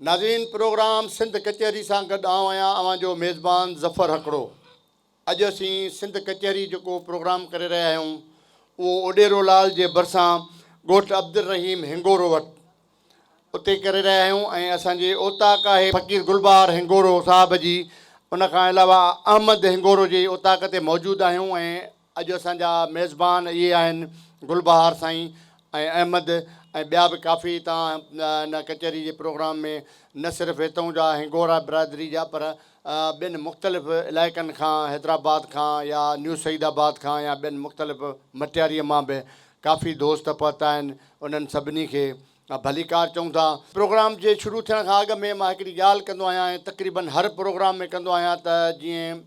ناظرين پروگرام سنڌ ڪچهري سان گڏ آئون آهيان اوهان جو ميزبان ظفر هڪڙو اڄ اسين سنڌ ڪچهري جيڪو پروگرام ڪري رهيا آهيون اهو اوڏيرو لال جي ڀرسان ڳوٺ عبدالرحيم هنگورو وٽ اتي ڪري رهيا آهيون ۽ اسان جي اوطاق آهي فقير گلبهار هنگورو صاحب جي ان کان علاوه احمد هنگورو جي اوطاق تي موجود آهيون ۽ اڄ اسان جا ميزبان اهي آهن گلبهار سائين ۽ احمد ۽ ٻيا به ڪافي هتان ان ڪچهري جي پروگرام ۾ نه صرف هتئون جا هنگورا برادري جا پر ٻين مختلف علائقن کان حيدرآباد کان يا نيو سعيد آباد کان يا ٻين مختلف مٽياريء مان به ڪافي دوست پهتا آهن انهن سڀني کي ڀليڪار چئون ٿا. پروگرام جي شروع ٿيڻ کان اڳ ۾ مان هڪڙي ڳالهه ڪندو آهيان ۽ تقريبن هر پروگرام ۾ ڪندو آهيان ته جيئن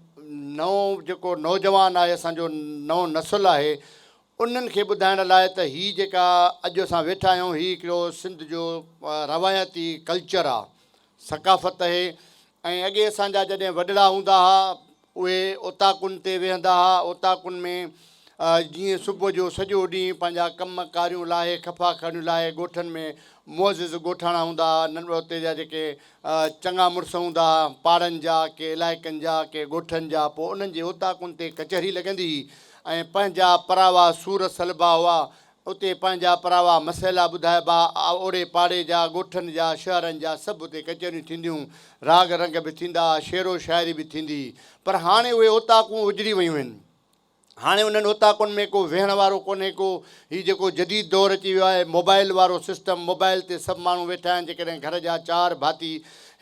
نئون جيڪو نوجوان آهي اسان جو نئون نسل آهي انهن کي ٻڌائڻ لاء ته هي جيڪا اڄ اسان ويٺا آهيون هي هڪڙو سنڌ جو روايتي ڪلچر آهي ثقافت اهي ۽ اڳي اسان جا جڏهن وڏڙا هوندا ها اهي اوطاقن تي ويهندا ها اوطاقن ۾ جيئن صبح جو سڄو ڏينهن پنهنجا ڪم ڪاريون لاهي خفا کاڻيون لاهي ڳوٺن ۾ معزز ڳوٺاڻا هوندا ها ننڍڙا اتي جا جيڪي چڱا مڙس هوندا ها پاڙن جا ڪي علائقن جا ڪي ڳوٺن جا پوء انهن جي اوطاقن تي ڪچهري لڳندي هئي ۽ پنهنجا پراوا سور سلبا هئا اتي پنهنجا پراوا مسئلا ٻڌائبا، اوڙي پاڙي جا، ڳوٺن جا، شهرن جا سڀ اتي ڪچهريون ٿينديون، راڳ رنگ به ٿيندا، شعر و شاعري به ٿيندي. پر هاڻي اهي اوطاقون اجڙي ويون آهن. هاڻي انهن اوطاقن ۾ ڪو ويهڻ وارو ڪونهي ڪو. هي جيڪو جديد دور اچي ويو آهي، موبائل وارو سسٽم، موبائل تي سڀ ماڻهو ويٺا آهن، جيڪڏهن گهر جا چار ڀاتي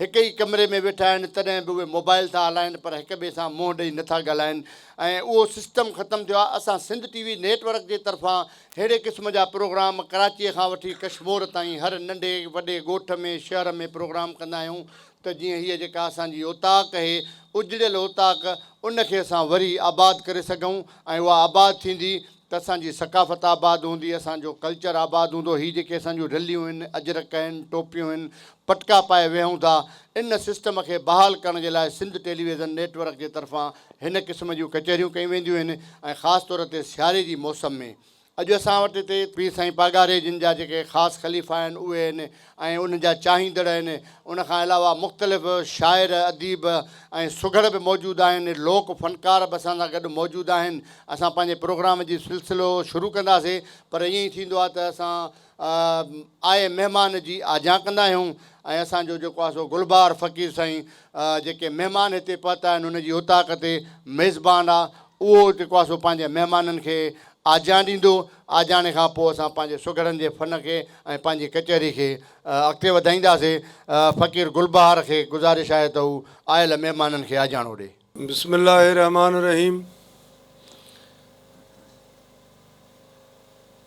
هڪ ئي ڪمري ۾ ويٺا آهن، تڏهن به اهي موبائل ٿا هلائين، پر هڪ ٻئي سان منهن ڏئي نه ٿا ڳالهائين. ۽ اهو سسٽم ختم ٿيو آهي اسان Sindh T V network جي طرفان ههڙي قسم جا پروگرام ڪراچيء کان وٺي ڪشمور تائين هر ننڍي وڏي ڳوٺ ۾ شهر ۾ پروگرام ڪندا آهيون ته جيئن هيء جيڪا اسان جي اوطاق هي اجڙيل اوطاق ان کي اسان وري آباد ڪري سگهون ۽ اها آباد ٿيندي ته اسان جي ثقافت آباد هوندي، اسان جو ڪلچر آباد هوندو، هي جيڪي اسان جون رليون هن، اجرڪ هن، ٽوپيون هن، پٽڪا پائي ويهون ٿا، ان سسٽم کي بحال ڪرڻ جي لاء سنڌ ٽيليويزن نيٽ ورڪ جي طرفان هن قسم جون ڪچهريون ڪيون وينديون هن ۽ خاص طور تي سياري جي موسم ۾ اڄ اسان وٽ هتي پير سائين پاڳاري جن جا جيڪي خاص خليفا آهن اهي هن، ۽ ان جا چاهيندڙ آهن. ان کان علاوه مختلف شاعر، اديب ۽ سگهڙ به موجود آهن. لوڪ فنڪار به اسان سان گڏ موجود آهن. اسان پنهنجي پروگرام جي سلسلو شروع ڪنداسين پر ائين ئي ٿيندو آهي ته اسان آئي مهمان جي آجيان ڪندا آهيون ۽ اسان جو جيڪو آهي سو گلبهار فقير سائين جيڪي مهمان هتي پهتا آهن ان جي اوطاق تي ميزبان آهي اهو جيڪو آهي سو پنهنجي مهمانن کي آجيان ڏيندو، آجياڻي کان پوء اسان پنهنجي سگهڙن جي فن کي ۽ پنهنجي ڪچهري کي اڳتي وڌائينداسين، فقير گل بهار کي گذارش آهي ته هو آيل مهمانن کي آجياڻو ڏي. بسم الله الرحمٰن الرحيم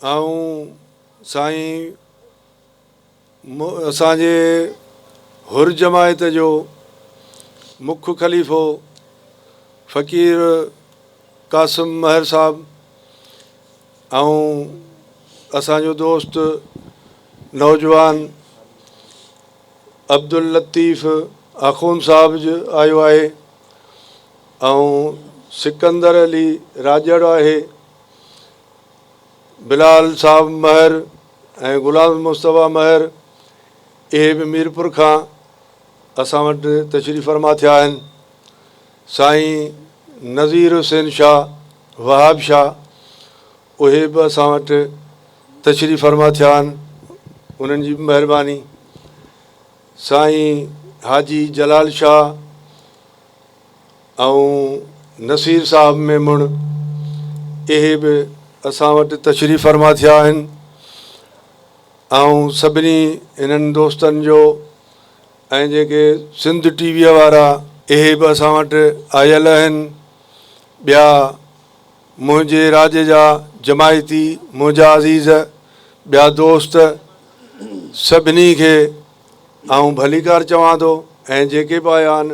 آئون سائين. اسان جي حر جماعت جو مک خليفو فقير قاسم مهر صاحب ۽ اسان جو دوست نوجوان عبداللطيف آخوند صاحب آيو آهي ۽ سڪندر علي راڄڙ آهي بلال صاحب مهر ۽ غلام مصطفيٰ مهر اهي به ميرپور کان اسان وٽ تشريف فرما ٿيا آهن. سائين نذير حسين شاهه وهاب شاهه اهي به اسان وٽ تشريف فرما ٿيا آهن انهن جي به مهرباني. سائين حاجي جلال شاهه ۽ نصير صاحب ميمڻ اهي به اسان وٽ تشريف فرما ٿيا آهن ۽ سڀني هنن دوستن جو ۽ جيڪي سنڌ ٽي ويء وارا اهي به اسان وٽ آيل آهن ٻيا منهنجي راڄ جا جماعتي منهنجا عزيز ٻيا دوست سڀني کي آئون ڀليڪار چوان ٿو ۽ جيڪي به آيا آهن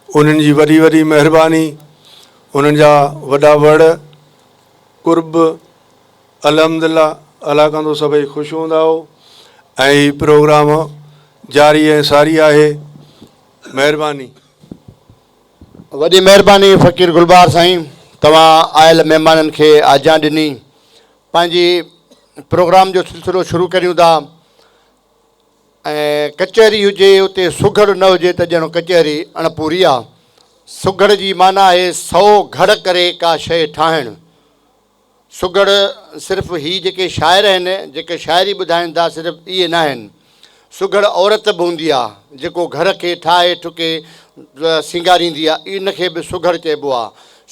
انهن جي وڏي وڏي مهرباني انهن جا وڏا وڙ قرب الحمدلله الله ڪندو سڀئي خوش هوندا هو ۽ هي پروگرام جاري ۽ ساري آهي مهرباني. وڏي مهرباني فقير گلبهار سائين توهان آيل مهمانن کي آجيان ڏني پنهنجي پروگرام جو سلسلو شروع ڪريون ٿا ۽ ڪچهري هجي اتي سگهڙ نه هجي ته ڄڻ ڪچهري اڻپوري آ. سگهڙ جي معنيٰ آهي سئو گهڙ ڪري ڪا شيء ٺاهڻ. سگهڙ صرف هي جيڪي شاعر آهن، جيڪي شاعري ٻڌائين ٿا صرف اهي ناهن. سگهڙ عورت به هوندي آ، جيڪو گهر کي ٺاهي ٺڪي سينگاريندي آ، ان کي به سگهڙ چئبو آ.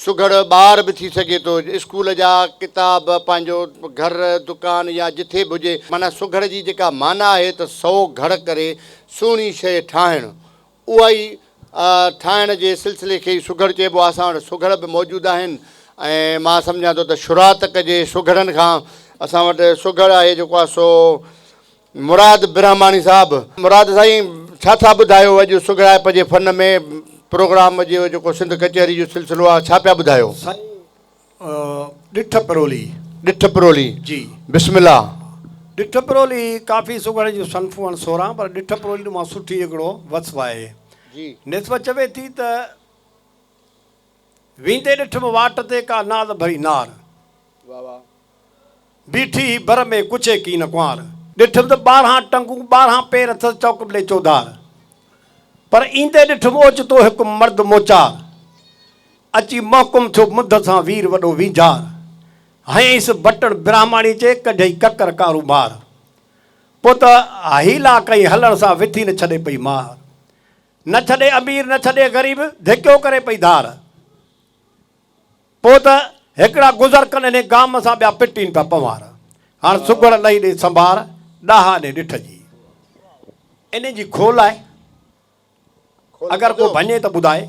سگهڙ ٻار به ٿي سگهي ٿو. اسڪول جا ڪتاب، پنهنجو گهر، دڪان يا جٿي به هجي. معنيٰ سگهڙ جي جيڪا معنيٰ آهي ته سئو گهڙ ڪري سهڻي شيء ٺاهڻ. اها ئي ٺاهڻ جي سلسلي کي ئي سگهڙ چئبو آهي. اسان وٽ سگهڙ به موجود آهن ۽ مان سمجهان ٿو ته شروعات ڪجي سگهڙن کان. اسان وٽ سگهڙ آهي جيڪو آهي سو. مراد برهماڻي صاحب مراد سائين ڇا ٿا ٻڌايو اڄ سگهڙائپ جي فن ۾ پروگرام جو جيڪو سنڌ ڪچهري جو سلسلو آهي ڇا پيا ٻڌايو. سائين ڏٺ پرولي. ڏٺ پرولي جي بسم الله. ڏٺ پرولي ڪافي سگهڙ جون صنفون آهن سورهن پر ڏٺ پرولي مان سٺي هڪڙو وصف آهي نسبت چوي ٿي ته ويندي ڏٺم واٽ تي ڪا ناز ڀري نار واهه واهه. بيٺي هي بر ۾ ڪڇي ڪين ڪنوار. ڏٺم ته ٻارهان ٽنگون ٻارهان پير اٿس چؤڪبلي چوڌار. پر ايندي ڏٺم اوچتو هڪ مرد موچار. اچي محڪم ٿيو منڌ سان وير وڏو وينجهار. هنئيس بٽڻ برهماڻي چي ڪڍيئي ڪڪر ڪارو مار. پوء ته حيلا ڪئي هلڻ سان وٿي نه ڇڏي پئي مار. نه ڇڏي امير نه ڇڏي غريب ڌڪيو ڪري پئي ڌار. پوء ته هڪڙا گذر ڪن انهي گام سان ٻيا پٽين پيا پنوار هاڻ سگهڙ لئي ڏي سنڀار ڏاها ڏي ڏٺ جي انهي جي کول آهي اگر ڪو ڀڃي ته ٻڌائي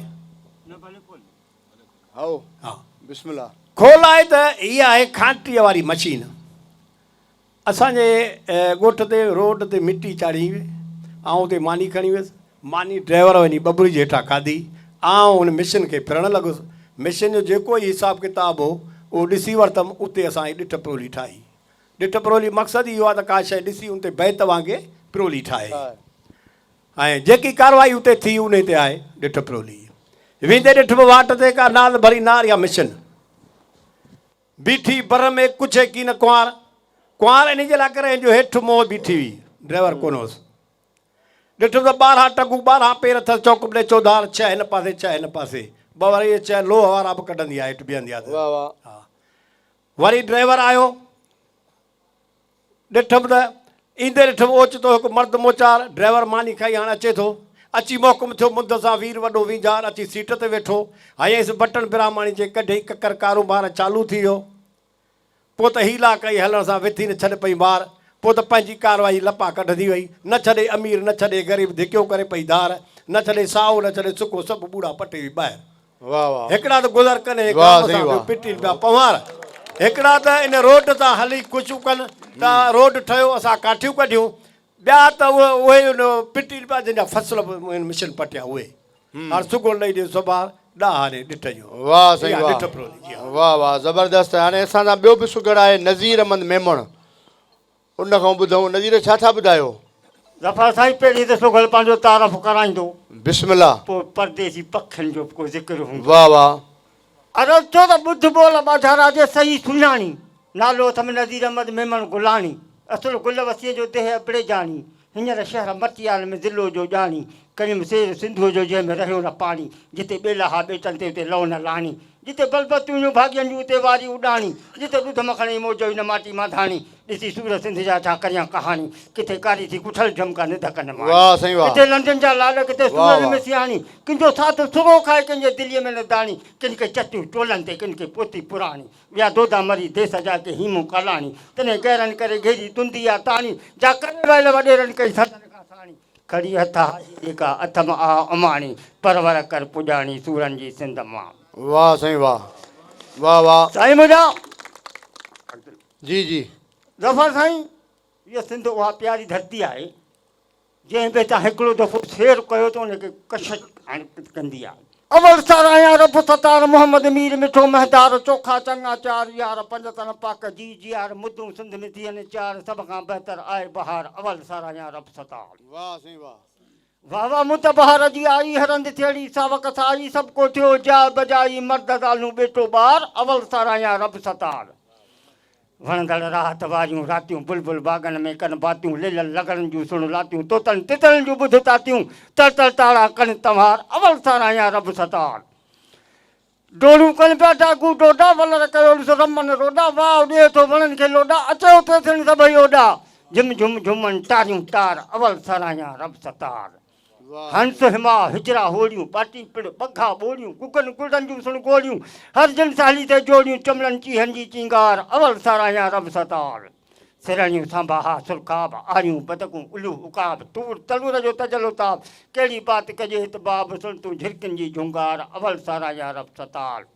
کول آهي ته هيء آهي کانٽيء واري مشين. اسان جي ڳوٺ تي روڊ تي مٽي چاڙهي هئي. آئون اتي ماني کڻي ويس. ماني ڊرائيور وڃي ٻٻري جي هيٺان کاڌي. آئون ان مشين کي ڦرڻ لڳس. مشين جو جيڪو ئي حساب ڪتاب هو، اهو ڏسي ورتم. اتي اسان هي ڏٺ پرولي ٺاهي. ڏٺ پرولي مقصد ئي اهو آهي ته ڪا شيء ڏسي ان تي بيت وانگي پرولي ٺاهي. ۽ جيڪي ڪارروائي اتي ٿي، انهي تي آهي ڏٺ پرولي. ويندي ڏٺ ۾ واٽ تي ڪا نال ڀري نار يا مشين. بيٺي بر ۾ ڪڇي ڪين ڪنوار ڪنوار انهي جي لاء ڪري هن جو هيٺ منهن بيٺي هئي ڊرائيور ڪونه هوس ڏٺم ته ٻارهان ٽنگون ٻارهان پير اٿس چوڪ ٻڏي چوڌار ڇهه هن پاسي ڇهه هن پاسي ٻه وري اهي ڇهه لوهه وارا به ڪڍندي آ هيٺ بيهندي آ ته واري ڊرائيور آيو ڏٺم ته ايندي ڏٺم اوچتو هڪ مرد موچار ڊرائيور ماني کائي هاڻ اچي ٿو. اچي محڪم ٿيو منڌ سان وير وڏو وينجهار اچي سيٽ تي ويٺو. هنيس بٽڻ براهماڻي جي ڪڍيئي ڪڪر ڪاروبار چالو ٿي ويو. پوء ته هيلا ڪئي هلڻ سان وٿي نه ڇڏ پئي مار. پوء ته پنهنجي ڪارروائي لپا ڪڍندي وئي. نه ڇڏي امير نه ڇڏي غريب ڌڪيون ڪري پئي ڌار. نه ڇڏي سائو نه ڇڏي سڪو سڀ ٻوڙا پٽي وئي ٻاهر. هڪڙا ته گذر ڪن هي گام سان ٻيو پٽين پيا پنهوار هڪڙا ته ان روڊ تان هلي ڪوششون ڪن ته روڊ ٺهيو اسان ڪاٺيون ڪڍيون ٻيا ته اهي ان پٽين پيا جن جا فصل به هن مشن پٽيا اهي هاڻ سگهو لئي ڏي سوڀار ڏاهاري ڏٺ جو واهه سائين واهه واهه واهه زبردست هاڻي اسان سان ٻيو به سگهڙ آهي نظير احمد ميمڻ ان کان ٻڌئون نذير ڇا ٿا ٻڌايو. ظفر سائين پهرين ته سگهل پنهنجو تعارف ڪرائيندو. بسم الله. پوء پرديسي پکين جو به ڪو ذڪر هوندو. واهه واهه. عرض ٿو ته ٻڌ ٻول ٻاجهارا جي صحيح سڃاڻي. نالو اٿم نذير احمد ميمڻ گلاڻي. اصل گل وسيء جو ديهه ابڙيجاڻي. هينئر شهر مٽيال ۾ ضلعو جو ڄاڻي، ڪريم سير سنڌوء جو جنهن ۾ رهيو نه پاڻي، جتي ٻيلا ها ٻيٽن تي اتي لئو نه لاڻي، جتي بلبل تون هيون ڀاڳين جون اتي واري اڏاڻي، جتي ڏڌ مکڻ ۽ موج هئي نه ماٽي مانڌاڻي، ڏسي سور سنڌ جا ڇا ڪريان ڪهاڻي، ڪٿي ڪاري ٿي ڪٺل جهمڪا نڌڪ نه ماڻي، ڪٿي لنڊن جا لاڏ ڪٿي سورن ۾ سياڻي، ڪنهن جو ساڌو سرو کائي ڪنهن جي دليء ۾ نه داڻي، ڪن کي چتيون ٽولن تي ڪن کي پوٿي پراڻي. ويا دودا مري ديس جا ڪي هيمون ڪالاڻي تنهن گهرن ڪري گهيري تندي آ تاڻي جا ڪري ويل وڏيرن ڪئي سندن کان ساڻي کڙي هٿ هائي جيڪا اٿم آ اماڻي پرور ڪر پڄاڻي سورن جي سنڌ مان. واھ سائين واھ واھ واھ. سائين منهنجا جي جي. ظفر سائين هيء سنڌ اها پياري ڌرتي آهي. جنهن به هتان هڪڙو دفعو سير ڪيو ته ان کي ڪشش حرڪت ڪندي آهي. اول ساراهيان رب ستار محمد مير مٺو مهدار چوکا چڱا چار يار پنج تن پاڪ جي جيار مدون سنڌ ۾ ٿين چار سڀ کان بهتر آئي بهار اول ساراهيان رب ستار. واهه سائين واهه. واهه واهه مون ته بهار جي آئي هرنڌ ٿيڙي ساوڪ سائي سڀ ڪو ٿيو جاء بجائي مرد زالون ٻيٽو ٻار اول ساراهيان رب ستار. وڻندڙ راحت واريون راتيون بلبل باغن ۾ ڪن باتيون ليلن لغڙن جون سڻ لاتيون طوطن تترن جون ٻڌ تاتيون تر تر تارا ڪن تنوار اول ساراهيان رب ستار ڊوڙون ڪن پيا ڊاڪو ڊوڊا ولر ڪيو ڏس رمن روڊا واء ڏئي ٿو وڻن کي لوڏا اچي اٿي سڻ سڀئي اوڏا جھم جھم جھومن ٽاريون ٽار اول ساراهيان رب ستار. هنس هما هجرا هوڙيون، ٻاٽين پڻ ٻگها ٻوڙيون، گگن گلن جون سڻ گوڙيون، هر جن سهلي تي جوڙيون، چمڙن چيهن جي چينگار، اول ساراهيان رب ستار. سرهاڻيون سانباها سرخاب، آريون بدڪون الوه عقاب، تور تنور جو تجلو تاب، ڪهڙي بات ڪجي هت باب، سڻ تون جهرڪين جي جهونگار، اول ساراهيان رب ستار.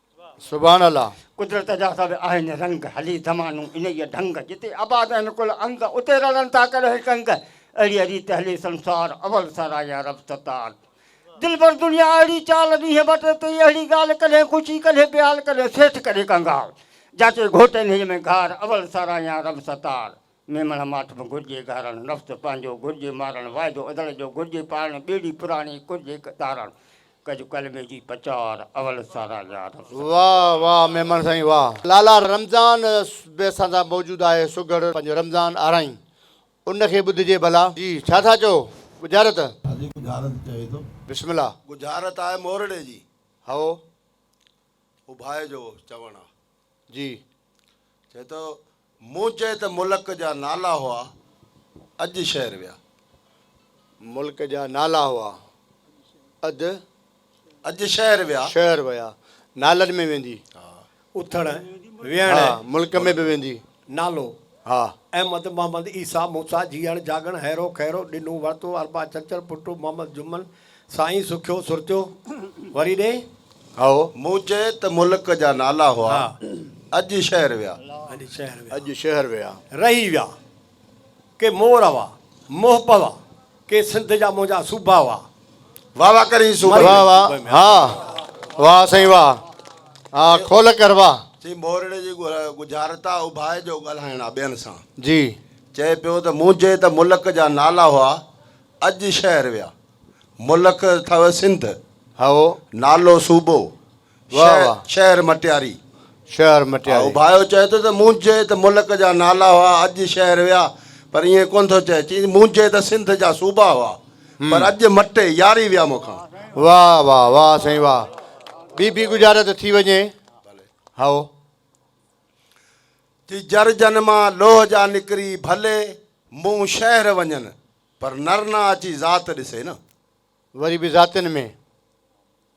سبحان الله. قدرت جا سڀ آهن رنگ، هلي زمانو انهيء ڍنگ، جتي آباد آهن ڪل انگ، اتي رلن ٿا ڪڏهن ڪنگ، اهڙيء ريت هلي سنسار، اول سر آهيان رب ستار، دلبر دنيا اهڙي چال، ڏينهن ٻه ٽي تي ئي اهڙي ڳالهه، ڪڏهن خوشي ڪڏهن بيال، ڪڏهن سيٺ ڪڏهن ڪنگال، جاچي گهوٽ انهيء ۾ گهار، اول سر آهيان رب ستار. ميمڻ ماٺ م گهرجي گهارڻ، نفس پنهنجو گهرجي مارڻ، واعدو ادڙ جو گهرجي پاڙڻ، ٻيڙي پراڻي ڪرجي تارڻ، ڪج ڪلمي جي پچار، اول سارا يار. واھ واھ ميمڻ سائين واھ. لالا رمضان به اسان سان موجود آهي سگهڙ پنهنجو رمضان آرائين ان کي ٻڌجي ڀلا. جي ڇا ٿا چئو ڳجهارت. ها جي ڳجهارت چوي ٿو. بسم الله. ڳجهارت آهي مورڙي جي. هئو. اڀائي جو چوڻ آ جي چئي ٿو مون چئي ته ملڪ جا نالا هئا اڄ شهر ويا. ملڪ جا نالا هئا اڄ اڄ شهر ويا. شهر ويا نالن ۾ ويندي اٿڻ ويهڻ ملڪ ۾ به ويندي. نالو، ها، احمد، محمد، عيسيٰ، موسيٰ، جيئڻ، جاڳڻ، هيرو، خيرو، ڏنو، ورتو، اربع، ڇنڇر، پٽو، محمد، جمن، سائين، سکيو، سرتيو، وري ڏي. هائو، مون چئي ته ملڪ جا نالا هئا، اڄ شهر ويا. اڄ شهر ويا. اڄ شهر ويا. رهي ويا. ڪي مور هوا، موهه پوا. ڪي سنڌ جا منهنجا صوبا هئا. واھ واھ ڪرين صوبي ۾. واھ واھ ها واھ سائين واھ ها کول ڪر واھ. سائين مورڙي جي ڳجهارتا اڀائي جو ڳالهائڻ آ ٻين سان. جي. چئي پيو ته منهنجي ته ملڪ جا نالا هئا اڄ شهر ويا. ملڪ اٿئو سنڌ. هائو. نالو صوبو. شهر مٽياري. شهر مٽياري. اڀايو چئي ٿو ته مونجهي ته ملڪ جا نالا هئا اڄ شهر ويا پر ائين ڪونه ٿو چئي چئي مونجهي ته سنڌ جا صوبا هئا پر اڄ مٽي ياري ويا مون کان. واهه واهه واهه سائين واهه ٻي ٻي گجارا ته ٿي وڃي هائو. چئي جر جن مان لوهه جا نڪري ڀلي مون شهر وڃن پر نر نه اچي ذات ڏسي نه. وري به ذاتين ۾.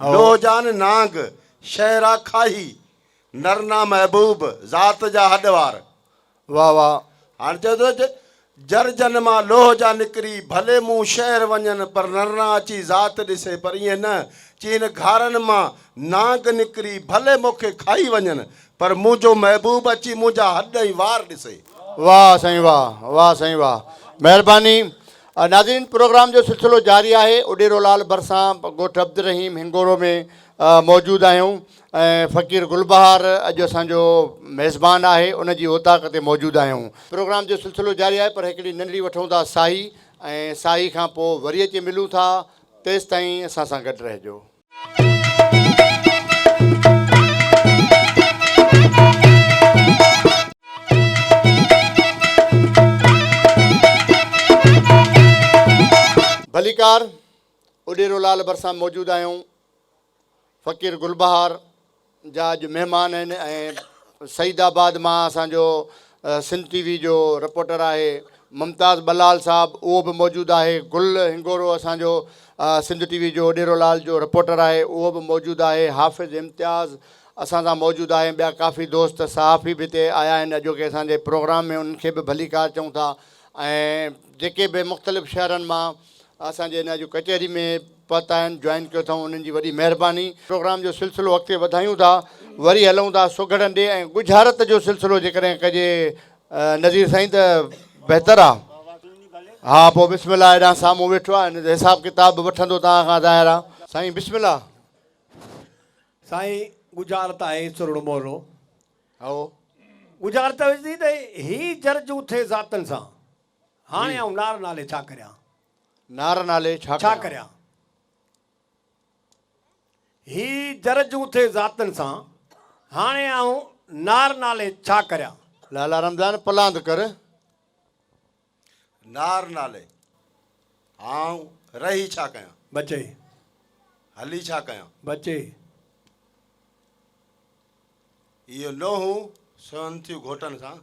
ڏوهه جان نانگ، شهرا کاهي، نرنا محبوب، ذات جا هڏ وار. واهه واهه. هاڻ چئي ٿو ته جر جن مان لوهه جا نڪري ڀلي مون شهر وڃن پر نرنا اچي ذات ڏسي پر ائين نه چي هن گهارن مان نانگ نڪري ڀلي مون کي کائي وڃن پر منهنجو محبوب اچي منهنجا هڏ ۽ وار ڏسي. واهه سائين واهه. واهه سائين واهه. مهرباني. ناظرين پروگرام جو سلسلو جاري آهي اڏيرو لال ڀرسان ڳوٺ عبدالرحيم هنگورو ۾ موجود آهيون ۽ فقير گل بهار اڄ اسان جو ميزبان آهي ان جي اوطاق تي موجود آهيون پروگرام جو سلسلو جاري آهي پر هڪڙي ننڍڙي وٺون ٿا ساهي ۽ ساهي کان پوء وري اچي ملون ٿا تيستائين اسان سان گڏ رهجو. ڀليڪار اڏيرو لال ڀرسان موجود آهيون فقير گل بهار جا اڄ مهمان آهن ۽ سعيد آباد مان اسان جو سنڌ ٽي وي جو رپورٽر آهي ممتاز ٻلال صاحب اهو به موجود آهي گل هنگورو اسان جو سنڌ ٽي وي جو ڏيرو لال جو رپورٽر آهي اهو به موجود آهي حافظ امتياز اسان سان موجود آهي ٻيا ڪافي دوست صحافي به هتي آيا آهن اڄوڪي اسان جي پروگرام ۾ انهن کي به ڀليڪار چئون ٿا ۽ جيڪي به مختلف شهرن مان اسان جي ناجو ڪچهري ۾ پت آهن جوائن ڪيو اٿئون انهن جي وڏي مهرباني. پروگرام جو سلسلو اڳتي وڌايون ٿا وري هلئون ٿا سگهڙن ڏي ۽ ڳجهارت جو سلسلو جيڪڏهن ڪجي نذير سائين ته بهتر آ ها پو بسم الله هيڏانهن سامهون ويٺو آ ان جو حساب ڪتاب به وٺندو توهان کان ظاهر آ. سائين بسم الله. سائين ڳجهارت آهي سرهڙو مهرڙو. هائو. ڳجهارت هجي ته هي جرجون ٿئي ذاتن سان. هاڻي آئون نار نالي ڇا ڪريان. نار نالي ڇا ڪريان. ڇا ڪريان. هي جر جون ٿئي ذاتن سان. هاڻي آئون نار نالي ڇا ڪريان. لالا رمضان پلاند ڪر. نار نالي آئون رهي ڇا ڪيان. بچي. هلي ڇا ڪيان. بچي. اهي نوحون سونهن ٿيون گهوٽن سان.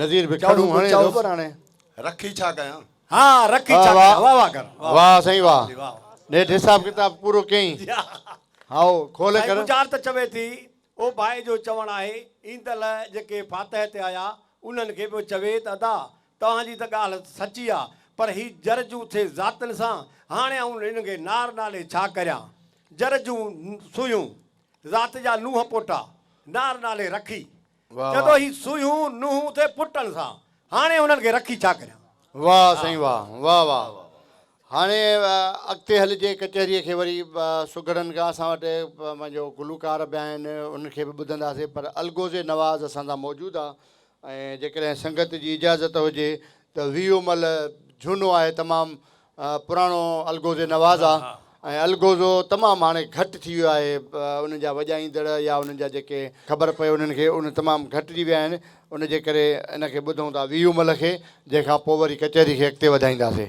نذير به کڙون هڻي ٿو پر هاڻي رکي ڇا ڪيان. ها رکي ڇا ڪيان واھ واھ ڪر واھ سائين واھ نيٺ حساب ڪتاب پورو ڪيئين هائو کولي ڪر. گجار ته چوي ٿي او ڀائي جو چوڻ آهي ايندل جيڪي فاتح تي آيا انهن کي به چوي ته ادا توهان جي ته ڳالھ سچي آ پر هي جرجون ٿي ذاتن سان هاڻي آئون هن کي نار نالي ڇا ڪريان جرجون سويون ذات جا نونهن پوٽا نار نالي رکي جدو هي سوئيون نونهون تي پٽن سان هاڻي انهن کي رکي ڇا ڪريان. واھ سائين واھ واھ واھ هاڻي اڳتي هلجي ڪچهري کي وري سگهڙن کان اسان وٽ پنهنجو گلوڪار به آهن انهن کي به ٻڌنداسي پر الغوز نواز اسان سان موجود آ ۽ جيڪڏهن سنگت جي اجازت هجي ته ويهو مل جهونو آهي تمام پراڻو الغوزي نواز آ ۽ الغوزو تمام هاڻي گهٽ ٿي ويو آهي انهن جا وڄائيندڙ يا انهن جا جيڪي خبر پئي انهن کي ان تمام گهٽجي ويا آهن ان جي ڪري ان کي ٻڌون ٿا ويهه مل کي جنهن کان پوء وري ڪچهري کي اڳتي وڌائينداسي.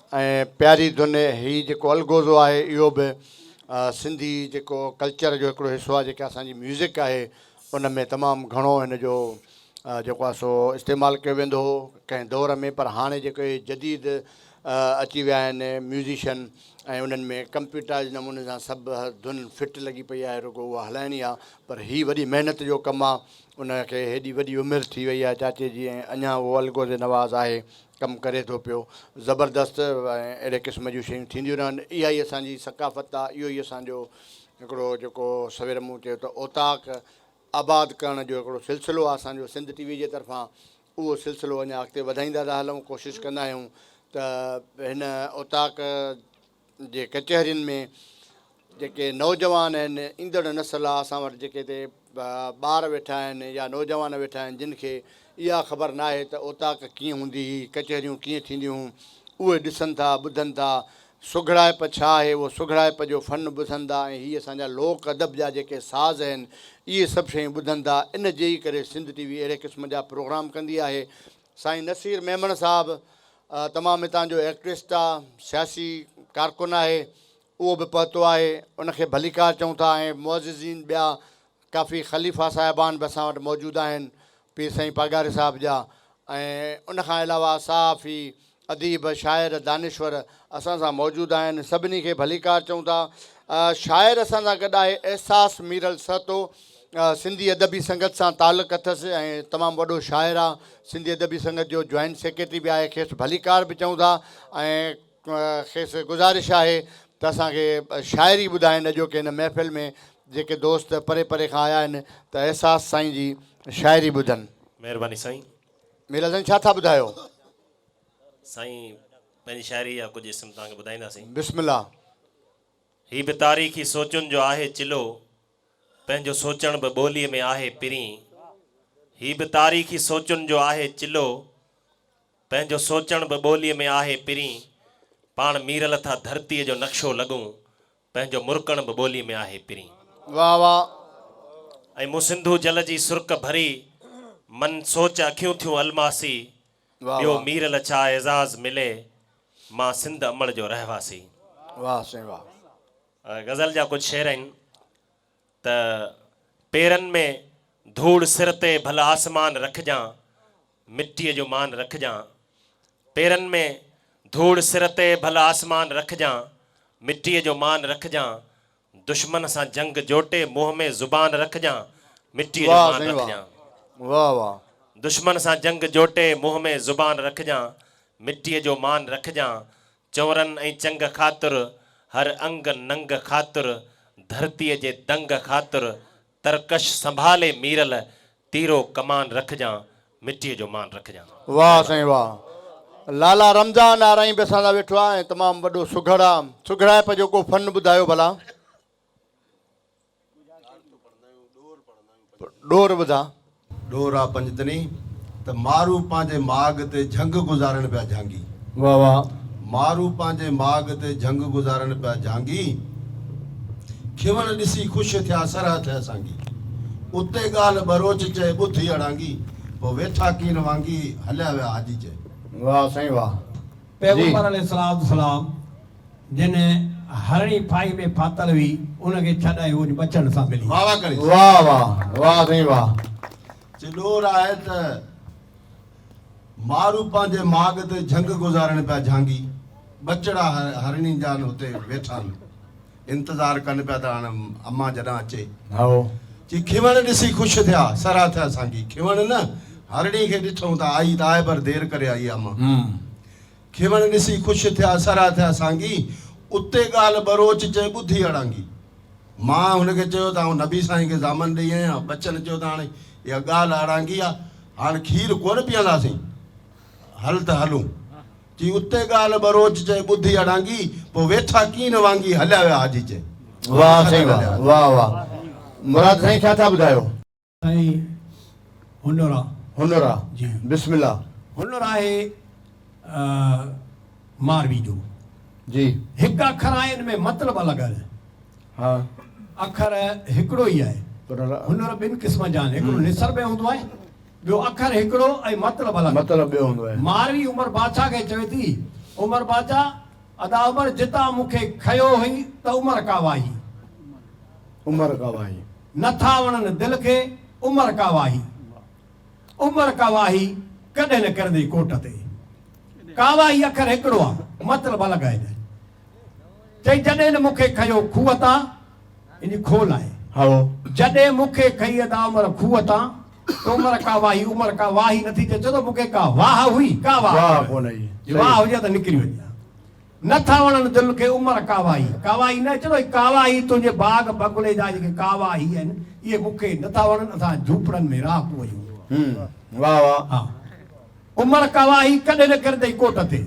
۽ پياري ڌن هي جيڪو الغوزو آهي اهو به سنڌي جيڪو ڪلچر جو هڪڙو حصو آهي جيڪا اسان جي ميوزڪ آهي ان ۾ تمام گهڻو هن جو جيڪو آهي سو استعمال ڪيو ويندو هو ڪنهن دور ۾ پر هاڻي جيڪو اهي جديد اچي ويا آهن ميوزيشن ۽ انهن ۾ ڪمپيوٽرائز نموني سان سڀ ڌن فٽ لڳي پئي آهي رڳو اها هلائڻي آهي پر هي وڏي محنت جو ڪم آهي ان کي هيڏي وڏي عمر ٿي وئي آهي چاچي جي ۽ اڃان اهو الغوزي نواز آهي ڪم ڪري ٿو پيو زبردست ۽ اهڙي قسم جون شيون ٿينديون رهن اها ئي اسان جي ثقافت آ اهو ئي اسان جو هڪڙو جيڪو سوير مون چيو ته اوطاق آباد ڪرڻ جو هڪڙو سلسلو آ اسان جو سنڌ ٽي وي جي طرفان اهو سلسلو اڃا اڳتي وڌائيندا ٿا هلون ڪوشش ڪندا آهيون ته هن اوطاق جي ڪچهرين ۾ جيڪي نوجوان آهن ايندڙ نسل آ اسان وٽ جيڪي تي ٻار ويٺا آهن يا نوجوان ويٺا آهن جن کي اها خبر ناهي ته اوطاق ڪيئن هوندي هي ڪچهريون ڪيئن ٿينديون هون اهي ڏسن ٿا ٻڌن ٿا سگهڙائپ ڇا آهي اهو سگهڙائپ جو فن ٻڌن ٿا ۽ هي اسان جا لوڪ ادب جا جيڪي ساز آهن اهي سڀ شيون ٻڌن ٿا ان جي ئي ڪري سنڌ ٽي وي اهڙي قسم جا پروگرام ڪندي آهي سائين نصير ميمڻ صاحب تمام هتان جو ايڪٽوسٽ آ سياسي ڪارڪن آهي اهو به پهتو آهي ان کي ڀليڪار چئون ٿا ۽ معززين ٻيا ڪافي خليفا صاحبان به اسان وٽ موجود آهن پير سائين پاڳاري صاحب جا ۽ ان کان علاوه صحافي اديب، شاعر، دانشور اسان سان موجود آهن، سڀني کي ڀليڪار چئون ٿا. شاعر اسان سان گڏ آهي احساس ميرل سهتو، سنڌي ادبي سنگت سان تعلق اٿس ۽ تمام وڏو شاعر آ، سنڌي ادبي سنگت جو جوائنٽ سيڪريٽري به آهي، کيس ڀليڪار به چئون ٿا ۽ کيس گذارش آهي ته اسان کي شاعري ٻڌائين، اڄوڪي هن محفل ۾ جيڪي دوست پري پري کان آيا آهن ته احساس سائين جي شاعري ٻڌن. مهرباني سائين. ميرل سائين ڇا ٿا ٻڌايو؟ سائين پنهنجي شاعري جا ڪجهه اسم توهان کي ٻڌائينداسين. بسم الله. هي به تاريخي سوچن جو آهي چلو، پنهنجو سوچڻ به ٻوليء ۾ آهي پرين. هي به تاريخي سوچن جو آهي چلو، پنهنجو سوچڻ به ٻوليء ۾ آهي پرين. پاڻ ميرل ٿا ڌرتيء جو نقشو لڳون، تنهنجو مرڪڻ به ٻولي ۾ آهي پرين. واھ واھ. ۽ مون سنڌو جل جي سرڪ ڀري من سوچ اکيون ٿيون الماسي واھ ٻيو واھ. مير لڇا اعزاز ملي مان سنڌ امڙ جو رهواسي. واھ سائين واھ. غزل جا ڪجھ شعر آهن. ته پيرن ۾ ڌوڙ سر تي ڀل آسمان رکجان مٽيء جو مان رکجان پيرن ۾ ڌوڙ سر تي ڀل آسمان رکجان مٽيء جو مان رکجان دشمن سان جنگ جوٽي منهن ۾ زبان رکجان مٽيء جو مان رکجان دشمن سان جنگ جوٽي منهن ۾ زبان رکجان مٽيء جو مان رکجان چورن ۽ چنگ خاطر، هر انگ ننگ خاطر، ڌرتيء جي دنگ خاطر، ترڪش سنڀالي ميرل، تيرو ڪمان رکجان، مٽيء جو مان رکجان. واھ سائين واھ لالا رمضان نارائين به اسان سان ويٺو آ ۽ تمام وڏو سگهڙ آ سگهڙائپ جو ڪو فن ٻڌايو ڀلا. ڏور ٻڌا. ڏور آ پنجتني ته مارو پنهنجي ماڳ تي جهنگ گذارڻ پيا جهانگي. واھ واھ. مارو پنهنجي ماڳ تي جهنگ گذارڻ پيا جهانگي. کيون ڏسي خوش ٿيا سرهه ٿئي سانگي. اتي ڳالهه ٻروچ چئي ٻڌ هي اڙانگي. پوء ويٺا ڪين وانگي هليا ويا حاجي چئي. واھ سائين واھ. پيغمبر عليه الصلوة والسلام. جنھن ھرڻي ڦاھي ۾ ڦاتل ھئي، ان کي ڇا ڏاھي اھو جو ٻچڙن سان ملي. واھ واھ ڪري. واھ واھ واھ سائين واھ چي ڏور آھي ته مارو پنھنجي ماڳ تي جھنگ گذارڻ پيا جھانگي ٻچڙا ھرڻين جا اتي ويٺا آھن انتظار ڪن پيا ته ھاڻ امان جڏھن اچي ھائو چي کيوڻ ڏسي خوش ٿيا سرھا ٿيا سانگي کيوڻ نه ھرڻي کي ڏٺئون ته آئي ته آھي پر دير ڪري آئي امان کيوڻ ڏسي خوش ٿيا سرها ٿيا سانگي اتي ڳالهه ٻروچ چئي ٻڌي اڙانگي. مان هن کي چيو ته آئون نبي سائين کي ضامن ڏئي آئي آهيان ٻچن چيو ته هاڻي اها ڳالهه اڙانگي آ هاڻ کير ڪونه پيئنداسين هل ته هلون چي اتي ڳالهه ٻروچ چئي ٻڌي اڙانگي پوء ويٺا ڪين وانگي هليا ويا حاجي چئي. واھ سائين واھ واھ واھ مراد سائين ڇا ٿا ٻڌايو. سائين هنر آ. هنر آ جي بسم الله. هنر آهي ماروي جو. جي. هڪ اکر آهن ۾ مطلب الڳ الڳ. ها. اکر هڪڙو ئي آهي. هنر ٻن قسمن جا آهن هڪڙو نثر ۾ هوندو آهي ٻيو اکر هڪڙو ۽ مطلب الڳ. مطلب ٻيو هوندو آهي. ماروي عمر بادشاهه کي چوي ٿي عمر بادشاهه ادا عمر جتان مون کي کنيو هئي ته عمر ڪا واهي. عمر ڪا واهي. نه ٿا وڻن دل کي عمر ڪا واهي. عمر ڪا واهي ڪڏهن نه ڪرندي ڪوٽ تي. ڪا واهي اکر هڪڙو آ مطلب الڳ آ هيڏانهن. چئي جڏهن نه مونکي کنيو کوهه تان هن جي کول آهي. هائو. جڏهن مونکي کنئي ادا عمر کوهه تان ته عمر ڪا واهي عمر ڪا واهي نه ٿي چئي ڇو ته مونکي ڪا واهه هئي ڪا واهه واهه ڪونه هئي. جي واهه هجي ها ته نڪري وڃي ها. نه ٿا وڻن دل کي عمر ڪاوائي ڪاوائي نه چوي ڪاوائي تنهنجي باغ بغلي جا جيڪي ڪاوا هي آهن اهي مون کي نه ٿا وڻن اسان جهوپڙن ۾ راهه پويون واهه واهه ها عمر ڪاوائي ڪڏهن نه ڪرندئي ڪوٽ تي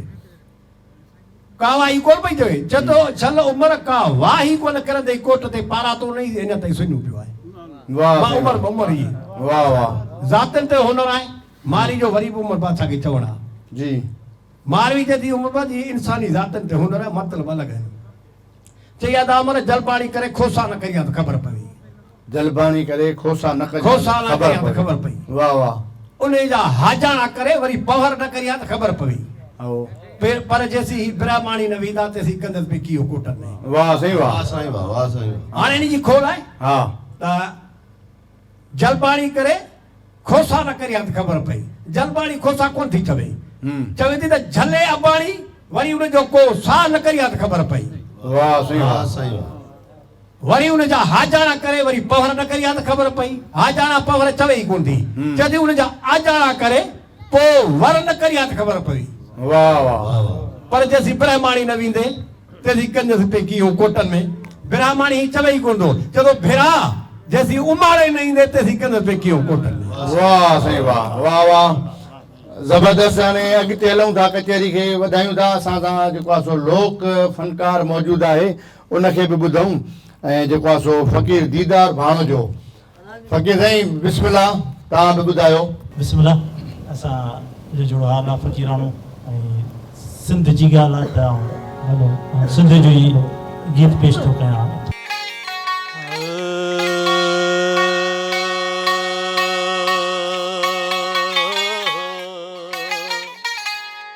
ڪاوائي ڪونه پئي چوي چتو ڇل عمر ڪا واهي ڪونه ڪرندئي ڪوٽ تي پارا تو نئي اڃا تائين سڃو پيو آهي واهه واهه عمر به عمر هي واهه واهه ذاتين تي هنر آهي ماري جو وري به عمر بادشاهه کي چوڻ آ جي. ماروي جديد عمر جي انساني ذاتن تي هن را مطلب الڳ آهن. چئي ادا عمر جلباڻي ڪري کوسا نه ڪئي ها ته خبر پوي. جلباڻي ڪري کوسا نه ڪئي ها ته خبر پوي. واهه واهه. انهي جا هاجاڻا ڪري وري پهر نه ڪئي ها ته خبر پوي. پر جيسين هي برهماڻي نه ويندا تيسين گندس به ڪيئو ڪوٽن ۾. واهه سائين واهه. واهه سائين واهه. واهه سائين واهه. هاڻي انهي جي کول آهي ته جلباڻي ڪري. کوسا نه ڪري ها ته خبر پئي. جلباڻي کوسا ڪونه ٿي چوي. چوي ٿي ته جهلي اباڻي وري ان جو ڪو سا نه ڪري ها ته خبر پئي. وري ان جا هاجاڻا ڪري وري پهر نه ڪري ها ته خبر پئي. هاجاڻا پهر چوي ئي ڪونه ٿي. چوي ٿي ان جا آجاڻا ڪري ڪو ور نه ڪري ها ته خبر پوي. واه واه پر جيسين برهماڻي نه ويندي تيسين ڪنجس پئي ڪيئون ڪوٽن ۾ برهماڻي هي چوي ئي ڪونه ٿو چئي ٿو ڀيرا جيسين اماڙي نه ايندي تيسين ڪنجس پئي ڪيئون ڪوٽن ۾. واه سائين واه واه واه زبردست هاڻي اڳتي هلون ٿا ڪچهري کي وڌايون ٿا اسان سان جيڪو آهي سو لوڪ فنڪار موجود آهي ان کي به ٻڌون ۽ جيڪو آهي سو فقير ديدار ڀاڻو جو فقير سائين بسم الله توهان به ٻڌايو. بسم الله اسان جو جوڙو حال آ فقيراڻو ۽ سنڌ جي ڳالھ آ ته آئون سنڌ جو ئي گيت پيش ٿو ڪيان.